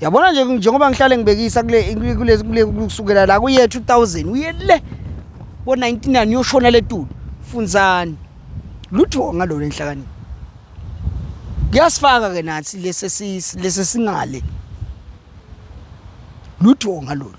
yabona nje njengoba ngihlale ngibekisa kule kusukela la kuye 2000 uye le bo-99 uyoshona le tulo funzani lutho ngalona enhlakanipho kuyasifaka ke nathi lesi singale lutho ngalona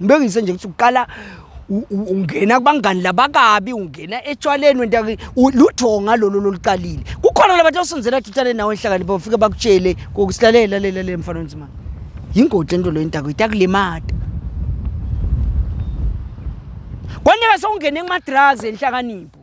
Ngibekise nje ukuthi uqala ungena kubangani labakabi ungena etshwaleni wenta lutho ngalolo loluqalile kukhona labantu osenzela athutshane nawe enhlakanipho ufike bakutshele kokusilalela lela le mfana onzima yingodi lento leyo intako itakulimata kwanyeka sewungene kuma-drugs enhlakanipho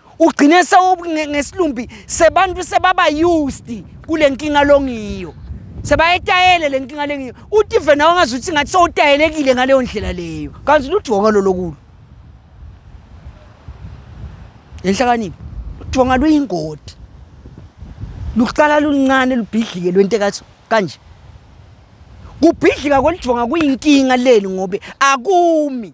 ugcine ngesilumbi sebantu sebaba used kule nkinga longiyo sebayetayele le nkinga lengiyo uthi vena wangazi ukuthi ngathi sowutayelekile ngaleyo ndlela leyo kanti ludonga lolokulo lenhlakanipho ludonga luyingodi luqala luncane lubhidlike lwento ekathi kanje kubhidlika kwelidonga kuyinkinga leli ngobe akumi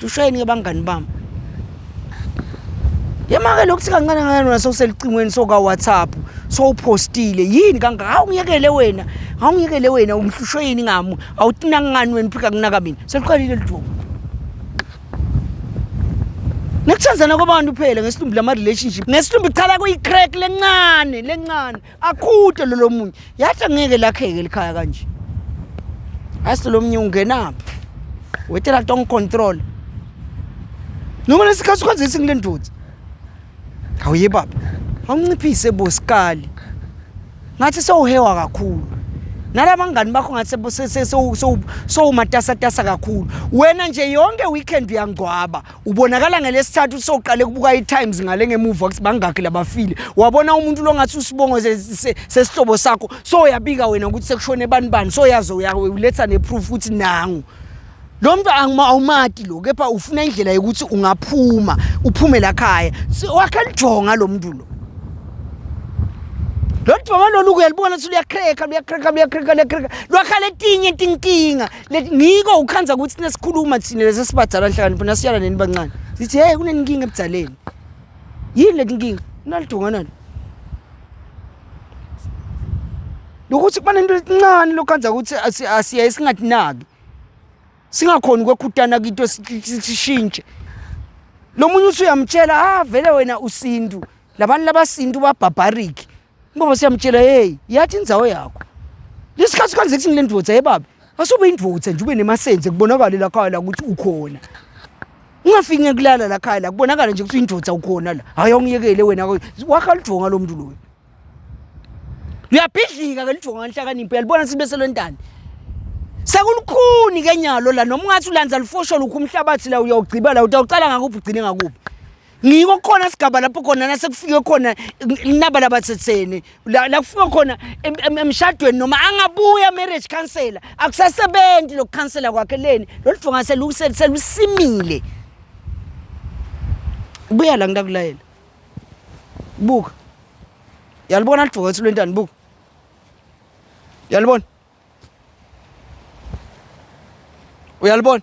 Hlusheni ke bangani bami. Yemake lokuthi kancane kancane wena sewuselicingweni soka WhatsApp sowupostile yini kangaka hawu ngiyekele wena hawu ngiyekele wena umhlushwe yini ngamu awutina ngani wena phika kunaka mina seliqalile liduma Nekuthandana kwabantu phela ngesilumbi lama relationship ngesilumbi chala kuyi crack lencane lencane Akhute lo lomunye. Yathi angeke lakheke likhaya kanje. Asi lomunye ungenaphi? Wetela tong control. Noma lesikhathi ukwenza isingi lendoda. Awuye baba. Awunciphise bosikali. Ngathi sewuhewa kakhulu. Nalabangani bakho ngathi sewumatasatasa kakhulu. Wena nje yonke weekend uyangcwaba. ubonakala ngelesithathu soqale kubuka i-times ngale ngemuva ukuthi bangakhi labafile wabona umuntu lo ngathi usibongo sesihlobo sakho so uyabika wena ukuthi sekushone bani bani so yaze uletha ne-proof ukuthi nangu lo mntu awumati lo kepha ufuna indlela yokuthi ungaphuma uphume lakhaya wakhe lijonga lo mntu lo lo jonga lolu kuyalibona ukuthi luyakhreka luyakhreka luyakhreka luyakhreka lwakhala etinye tinkinga Let ngiko ukhanza ukuthi thina sikhuluma thina lesi sibadala nhlakanipho nasiyala nini bancane. Sithi hey kunenkinga ebudaleni. Yini leti nkinga? Nalidunga nalo. Lokuthi kuba nento encane lokhanza ukuthi asiya isingatinaki. Singakhona ukwekhutana kito sishintshe. Lomunye usuyamtshela ah vele wena usintu. Labantu labasintu ba barbaric. Ngoba siyamtshela hey yathi indzawo yakho. Lesikhathi kanze kuthi ngilendvodza hey baba asube indvodza nje ube nemasenze kubonakala la khaya la ukuthi ukhona. Ungafiki ngekulala la khaya la kubonakala nje ukuthi indvodza ukhona la. Hayi ongiyekele wena wakha ludvonga lo muntu loyo. Uyabhidlika ke ludvonga nhlakanipho yalibona sibe selwentani. Sekulukhuni ke nyalo la noma ungathi ulandza lufosho lukhu umhlabathi la uyawugciba la utawucala ngakuphi ugcine ngakuphi. ngiko khona sigaba lapho khona nasekufike khona inaba labathetheni la kufika khona emshadweni noma angabuya marriage counselor akusasebenzi lokukhansela kwakhe leni lolu fonga selusimile buya la ngitakulayela buka yalibona lidvoka ethu lwentani buka yalibona uyalibona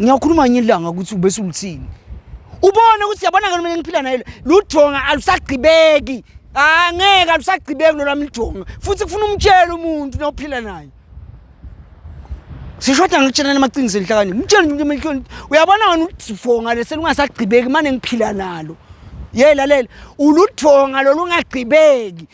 ngiyakhuluma ngenye ilanga ukuthi ubese ulithini ubone ukuthi yabona ke mina ngiphila naye lujonga alusagqibeki ah ngeke alusagqibeki lolwami lujonga futhi kufuna umtshele umuntu nophila naye sishoda ngikutshelana amaqiniso enhlakani mtshele umuntu emehlweni uyabona wena ulifonga lese lungasagqibeki mane ngiphila nalo ye lalela uludonga lolungagqibeki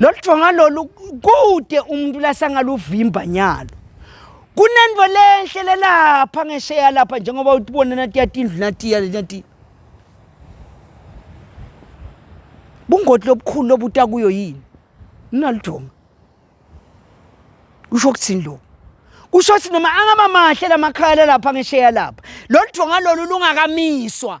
lolu thonga lolu kude umuntu lasangaluvimba nyalo kunento lenhle lelapha ngesheya lapha njengoba utibona natiya tindlu natiya natiya bungoti lobukhulu lobuta kuyo yini ninaludonga kusho ukuthini lokhu kusho ukuthi noma angaba mahle lamakhaya lalapha ngesheya lapha lolu donga lolu lungakamiswa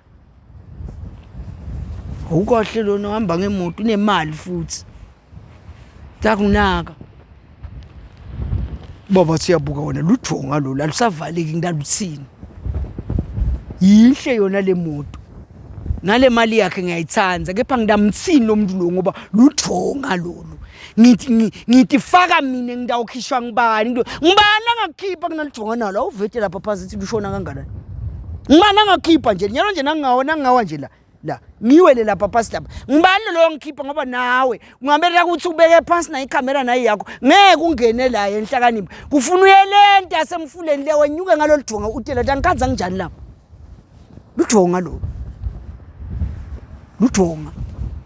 Awukahle lona uhamba ngemoto unemali futhi. Ngiyakunaka. Baba siyabuka wena lujonga lolu alusavaleki ngilaluthini. Yinhle yona le moto. Nale mali yakhe ngiyayithanda kepha ngidamthini lo muntu lo ngoba lujonga lolu. ngithi ngi- ngithi faka mina ngidawukhishwa ngibani Ngido- ngibani angakukhipha kunalijonga nalo awuvete lapha phansi ithi lushona kanganani ngibani angakhipha nje nyalo nje nangawa nangawa nje la la ngiwele lapha phansi lapha ngibani loyo ngikhipha ngoba nawe kungamele ukuthi ubeke phansi nayo ikhamera nayo yakho ngeke ungene la enhlakanipho kufuna uyelenta asemfuleni le wenyuke ngalolu jonga utela ukuthi angikhanza nginjani lapha lujonga lolu lujonga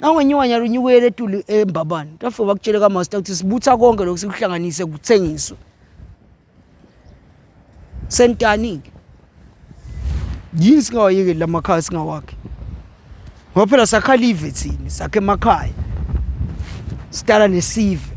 Nangonye iwanya lunyukele etuli embabane. Tafika bakutshele kamaster ukuthi sibutha konke lokhu sikuhlanganise kuthengiswe. Sentani-ke. Yini singawayekeli lamakhaya singawakhe? Ngoba phela sakha live thina, sakhe emakhaya. Sidala nesive.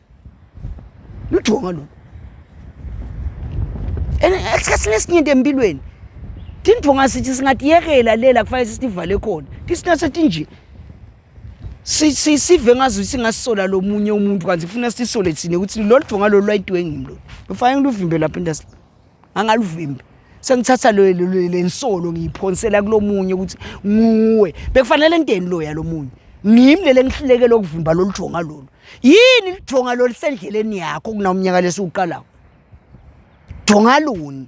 lujonga lona and esikhathini esiningi empilweni tindvonga sithi singatiyekela lela kufanele sisivale khona tisina setinje sive ngazo singasola lomunye umuntu kanti kufuna sisole thina ukuthi lolu dvonga lolu lwayidwe ngimi lolu lufanele luvimbele lapha industry angaluvimbi sengithatha lo lensolo ngiyiphonsela kulomunye ukuthi nguwe bekufanele ngideni loya lomunye ngimi lele ngihluleke lokuvimba lolu jonga lolu yini lijonga lolu sendleleni yakho kunawumnyaka lesiwuqalayo jonga luni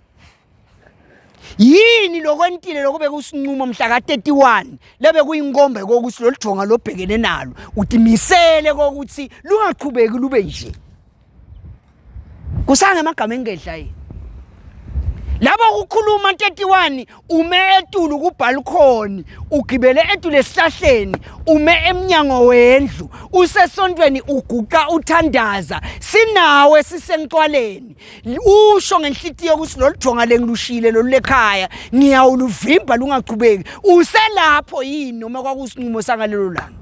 yini lokwentile lokho bekusinqumo mhla ka-31 lebe kuyinkombe kokuthi lolu jonga lobhekene nalo utimisele kokuthi lungaqhubeki lube nje kusanga emagama engedla yini labo kukhuluma 31 ume etulu kubalcony ugibele etulu esihlahleni ume emnyango wendlu usesontweni uguqa uthandaza sinawe sisencwaleni usho ngenhlitiyo ukuthi lolu jonga lengilushile lolu lekhaya ngiyawuluvimba lungaqhubeki uselapho yini noma kwakusinqumo sangalelo langa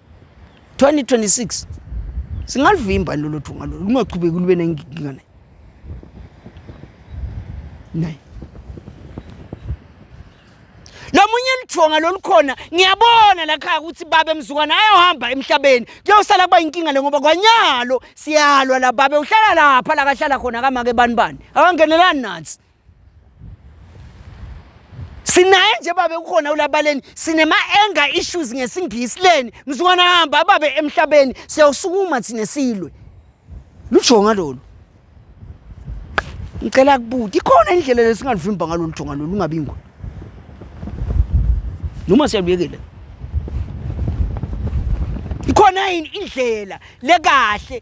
2026 singalivimba lolo thunga lolo lungaqhubeki lube nenkinga naye naye lomunye lithonga lolukhona ngiyabona la khaya ukuthi babe mzukwana ayohamba emhlabeni kuyosala kuba inkinga le ngoba kwanyalo siyalwa la babe uhlala lapha la kahlala khona kamake bani bani akangenelani nansi sinaye nje babe kukhona ulabaleni sinema-anger issues ngesingisi leni mzukwana hamba ababe emhlabeni siyawusukuma thina silwe lujonga lolu ngicela kubuti ikhona indlela lesingalivimba ngalolu jonga lolu ungabi ngona noma siyaluyekela ikhona yini indlela lekahle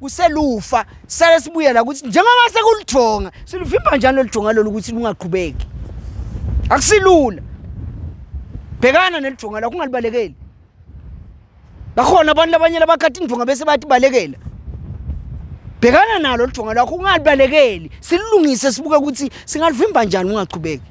kuselufa sale sibuyela ukuthi njengoba sekuludonga siluvimba njani loludonga lolu ukuthi lungaqhubeki akusilula bhekana neludonga lakho ungalibalekeli bakhona abantu labanye labakhathi indonga bese bathi balekela bhekana nalo ludonga lwakho ungalibalekeli sililungise sibuke ukuthi singalivimba njani ungaqhubeki